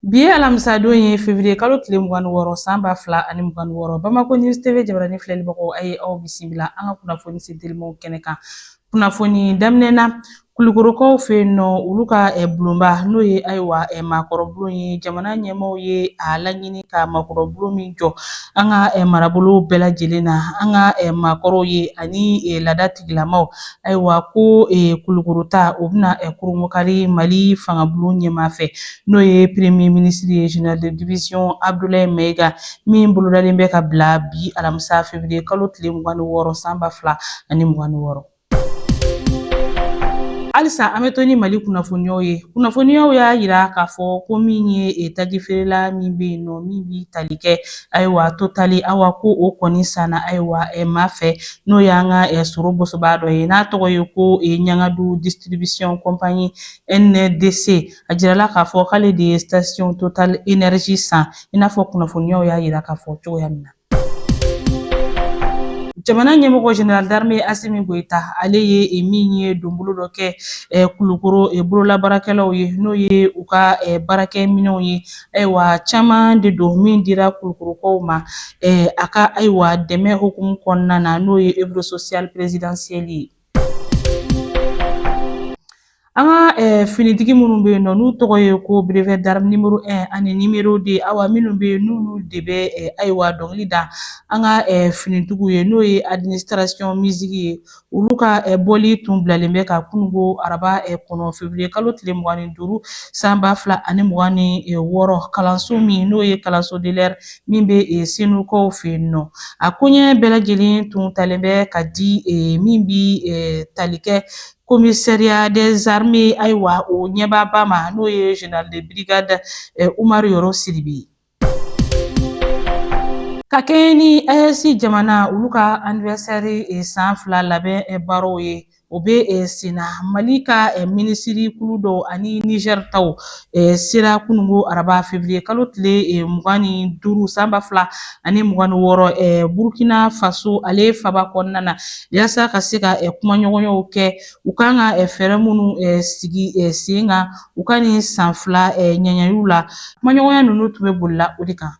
Bi ye alamisadon ye fevriye kalo tile mugan ni wɔɔrɔ san ba fila ani mugan ni wɔɔrɔ Bamako News TV jabarani filɛlibagaw a ye aw bisimila an ka kunnafoni se telimaw kɛnɛ kan kunnafoni daminɛna Kulikorokaw fɛ yen nɔ olu ka bulonba n'o ye ayiwa maakɔrɔbulon ye jamana ɲɛmaaw ye a laɲini ka maakɔrɔbulon min jɔ an ka marabolo bɛɛ lajɛlen na an ka maakɔrɔw ye ani laada tigilamaw ayiwa ko Kulikoro ta o bɛna kurunbonkari Mali fangabulon ɲɛmaa fɛ n'o ye premier minisiri ye general de division abdulayi mayiga min bolodalen bɛ ka bila bi alamisa fevrier kalo tile mugan ni wɔɔrɔ san ba fila ani mugan ni wɔɔrɔ halisa an bɛ to ni mali kunnafoniyaw ye kunnafoniyaw y'a yira k'a fɔ ko min ye e, taji feerela min bɛ yen nɔ min bɛ tali kɛ ayiwa Totali awa ko o kɔni sanna ayiwa e, maa fɛ n'o y'an ka e, sɔrɔ bɔsɔbaa dɔ ye n'a tɔgɔ ye ko ɲangadu distribution compagnie ndc A jirala k'a fɔ k'ale de ye station total energy san i n'a fɔ kunnafoniyaw y'a jira k'a fɔ cogoya min na. Jamana ɲɛmɔgɔ General d'armee Asimi Goyita ale ye e min ye donbolo dɔ kɛ e, Kulukoro e, bololabaarakɛlaw ye n'o ye u ka e, baarakɛ minɛnw ye ayiwa caman de don min dira Kulukorokaw ma a ka ayiwa dɛmɛ hukumu kɔnɔna na n'o ye Œuvre sociale présidentielle ye. An ka finitigi minnu bɛ yen nɔ n'u tɔgɔ ye ko brevet d'armes nimoro un ani nimoro deux awa minnu bɛ yen n'olu de bɛ ayiwa dɔnkili da an ka finitigiw ye n'o ye administration musique ye olu ka bɔli tun bilalen bɛ ka kununko araba kɔnɔ feburuye kalo tile mugan ni duuru san ba fila ani mugan ni wɔɔrɔ kalanso min n'o ye kalanso min bɛ e, senukaw fɛ yen nɔ a koɲɛ bɛɛ lajɛlen tun talen bɛ ka di e, min bɛ e, tali kɛ commissariat des armées ayiwa o ɲɛmaaba ma n'o ye général de brigade Umaru Yɔrɔ Sidibe ye. Ka kɛɲɛ ni AES jamana olu ka anniversaire san fila labɛn baaraw ye O bɛ eh, sen na Mali ka eh, minisiri kulu dɔw ani Niger taw eh, sera kununko araba fevriye kalo tile mugan ni duuru san ba fila ani mugan ni wɔɔrɔ Burkina Faso ale faba kɔnɔna na yasa ka se ka kumaɲɔgɔnyaw kɛ u kan ka fɛɛrɛ minnu sigi sen kan u ka nin san fila ɲagaliw la kumaɲɔgɔnya ninnu tun bɛ bolila o de kan.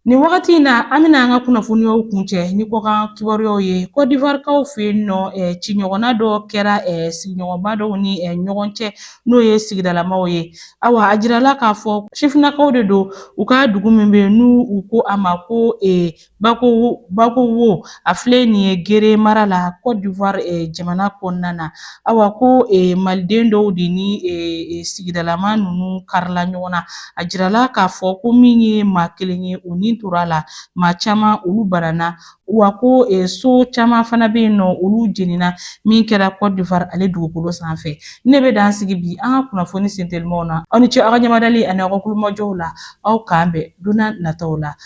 Nin wagati in na an bɛna an ka kunnafoniyaw kuncɛ ni kɔkan kibaruyaw ye kɔdiwarikaw fɛ yen nɔ eh, ciɲɔgɔnna dɔ kɛra eh, sigiɲɔgɔnba dɔw ni eh, ɲɔgɔn cɛ n'o ye sigidalamaw ye awa a jirala k'a fɔ sifinnakaw de don u ka dugu min bɛ yen n'u u ko a ma ko Bakurubu bakurubu a filɛ nin ye gere mara la Cote d'Ivoire eh, jamana kɔnɔna na awa ko eh, maliden dɔw de ni eh, eh, sigidalama ninnu karila ɲɔgɔn na a jirala k'a fɔ ko min ye maa kelen ye o ni tora a la maa caman olu banana wa ko eh, so caman fana bɛ yen nɔ olu jenina min kɛra Cote d'Ivoire ale dugukolo sanfɛ ne bɛ dan sigi bi an ka kunnafoni sentelimaw na aw ni ce aw ka ɲɛmadali ani aw ka tulomajɔ la aw k'an bɛn don nataw la